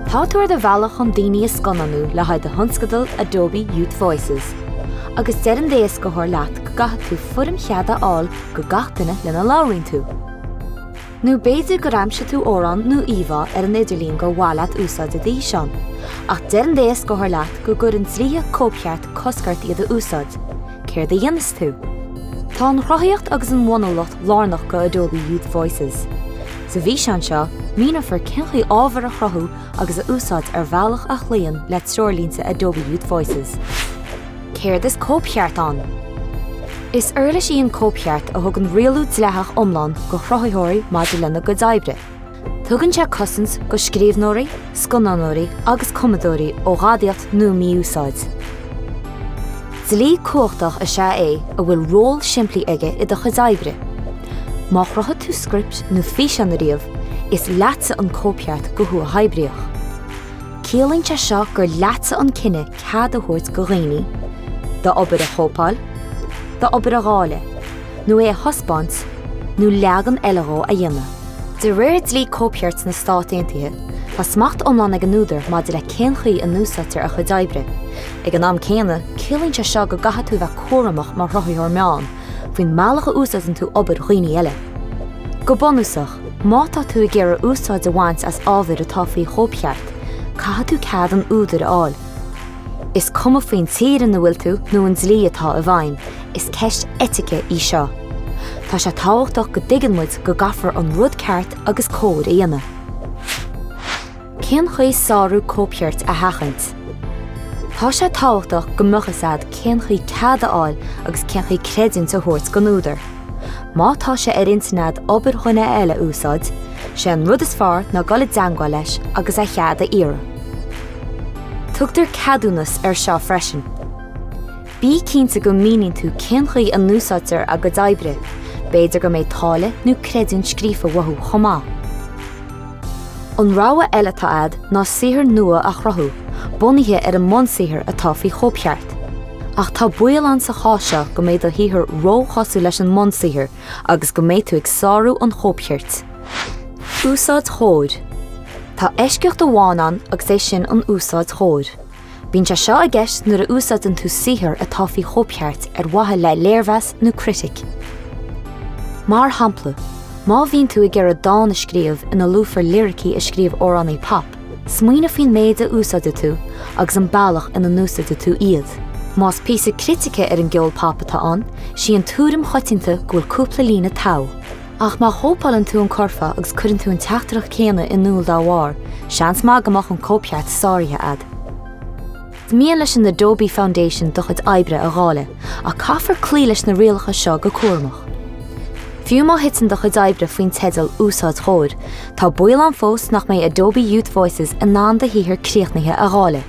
Tá tú ar do bhealach chun daoine a scannánú le haghaidh do thionscadal Adobe Youth Voices, agus deir an t-éascaitheoir leat go gcaithfidh tú foirm chead a fháil go gach duine lena labhraíonn tú. Nó b'fhéidir gur aimsigh tú amhrán nó íomhá ar an idirlíon gur mhaith leat úsáid i d'fhíseán. Ach deir an t-éascaitheoir leat go gcuireann dlíthe cóipcheart cosc ort iad a úsáid. Céard a dhéanfas tú? Tá an chruthaíocht agus an bhunúlacht lárnach go Adobe Youth Voices. Sa bhfíseán seo, míneofar cén chaoi ábhar a chruthú agus a úsáid ar bhealach a chloíonn le treoirlínte Adobe Youth Voices. Céard is cóipcheart ann? Is uirlis í an cóipcheart a thugann rialú dleathach iomlán go chruthaitheoirí maidir lena gcuid oibre. Tugann sé cosaint go scríbhneoirí, scannánóirí agus cumadóirí ó ghadaíocht nó mí-úsáid. Dlí cumhachtach is ea é a bhfuil ról simplí aige i do chuid oibre. Má chruthaigh tú script nó físeán ariamh, is leatsa an cóipcheart go huathoibríoch. Ciallaíonn sé seo gur leatsa an cinneadh cead a thabhairt go dhaoine d'obair a chóipeáil, d'obair a dháileadh, nó é a thaispeáint, nó leagan eile dhó a dhéanamh. De réir dlí cóipchirt na Stát Aontaithe, tá smacht iomlán ag an údar maidir le cén chaoi a n-úsáidtear a chuid oibre. Ag an am céanna, ciallaíonn sé seo go gcaithfidh tú a bheith cúramach mar chruthaitheoir meán faoin mbealach a úsáideann tú obair dhaoine eile. Go bunúsach. Má tá tú ag iarraidh úsáid a bhaint as ábhair atá faoi chóipcheart, caithfidh tú cead an údair a fháil. Is cuma faoin tír ina bhfuil tú nó an dlí atá i bhfeidhm, is ceist eitice í seo. Tá sé tábhachtach go dtuigeann muid go gcaithfear an rud ceart agus cóir a dhéanamh. Cén chaoi sárú cóipchirt a sheachaint? Tá sé tábhachtach go mbeadh fhios agat cén chaoi cead a fháil agus cén chaoi creidiúint a thabhairt don údar. Má tá sé ar intinn agat obair dhuine eile a úsáid, sé an rud is fearr ná dul i dteangmháil leis agus a chead a iarraidh. Tugtar ceadúnas ar seo freisin. Bí cinnte go míníonn tú cén chaoi a n-úsáidtear a gcuid oibre, b'fhéidir go mbeidh táille nó creidiúint scríofa uathu chomh maith. An rogha eile atá agat ná saothar nua a chruthú, bunaithe ar an mbunsaothar atá faoi chóipcheart. Ach tá baol ann sa chás seo go mbeidh do shaothar róchosúil leis an mbunsaothar agus go mbeidh tú ag sárú an chóipchirt. Úsáid chóir, Tá eisceacht amháin ann agus é sin an úsáid chóir. Bíonn sé seo i gceist nuair a úsáideann tú saothar atá faoi chóipcheart ar mhaithe le léirmheas nó critique. Mar shampla, má bhíonn tú ag iarraidh dán a scríobh ina luafar liricí a scríobh amhránaí pop, smaoinigh faoin méid a úsáideann tú agus an bealach ina n-úsáideann tú iad. Más píosa critice ar an gceol pop atá ann, is í an tuairim choitianta go bhfuil cúpla líne togha. Ach má chóipeálann tú an curfá agus cuireann tú an teachtaireacht chéanna in iúl dá bharr, seans maith go mbeadh an cóipcheart sáraithe agat. Is mian leis an Adobe Foundation do chuid oibre a dháileadh, ach caithfear cloí leis na rialacha seo go cúramach. Fiú má thiteann do chuid oibre faoin teideal 'Úsáid Chóir', tá baol ann fós nach mbeidh Adobe Youth Voices in ann do shaothar críochnaithe a dháileadh.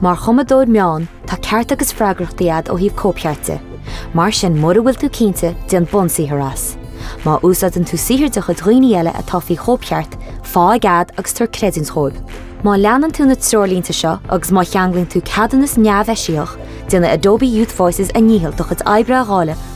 Mar chumadóir meán, tá cearta agus freagrachtaí agat ó thaobh cóipcheart de. Mar sin, mura bhfuil tú cinnte, déan bunsaothar as. Má úsáideann tú saothar de chuid dhaoine eile atá faoi chóipcheart, fáigh cead agus tabhair creidiúint dhóibh. Má leanann tú na treoirlínte seo agus má cheanglaíonn tú ceadúnas neamheisiach, déanfaidh Adobe Youth Voices a ndícheall do chuid oibre a dháileadh